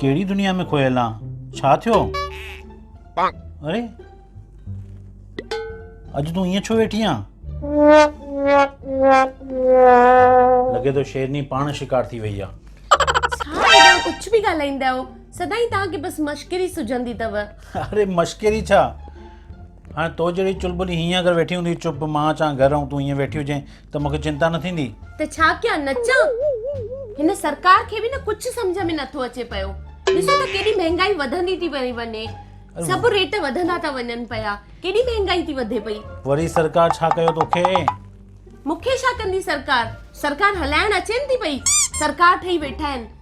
ڪهڙي دنيا ۾ کويل آن ڇا ٿيو اري اڄ تون ائين ڇو ويٺي آن لڳي ٿو شيرني پاڻ شڪار ٿي وئي آن ڪجهه به ڳالهائيندا آهيو سدائين توهان کي بس مشڪري سجندي اٿو اري مشڪري ڇا هاڻي تو جهڙي چلبلي هيئن اگر ويٺي هوندي چپ مان اچان گهر ۽ تون هيئن ويٺي هجين ته مونکي چنتا نه ٿيندي. ته ڇا ڪيان نچان. هن سرڪار کي به نه ڪجهه سمجهه ۾ نٿو اچي پيو. ڏسو ته ڪيڏي مهنگائي وڌندي ٿي پئي وڃي. سڀ ريٽ وڌندا ٿا وڃن پيا. ڪيڏي مهنگائي ٿي وڌي پئي. وري سرڪار ڇا ڪيو توکي. مونکي ڇا ڪندي سرڪار. سرڪار هلائڻ اچين ٿي پئي. سرڪار ٺهي ويٺا آهن.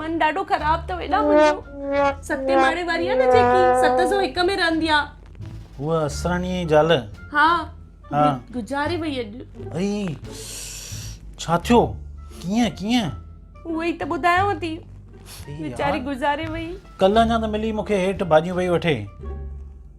من ڏاڍو خراب اٿو ايڏا منهنجو ستين ماڙي واري آ نه جيڪي ست سو هڪ ۾ رهندي آ هو اسراڻي جي زال ها ها گذاري وئي اڄ اي ڇا ٿيو ڪيئن ڪيئن هو ئي ته ٻڌايو ٿي ويچاري گذاري وئي ڪل اڃا ته ملي مونکي هيٺ ڀاڄيون پئي وٺي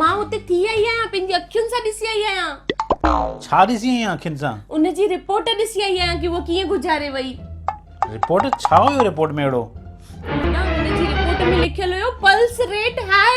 مان اتي ٿي آئي آهيان پنهنجي اکين سان ڏسي آئي آهيان. ڇا ڏسي آئي آهين اکين سان؟ ان جي رپورٽ ڏسي آئي آهيان ڪي هوء ڪيئن گذاري وئي. رپورٽ ڇا هيو رپورٽ ۾ اهڙو؟ منا ان جي رپورٽ ۾ لکيل هيو پلس ريٽ هاء.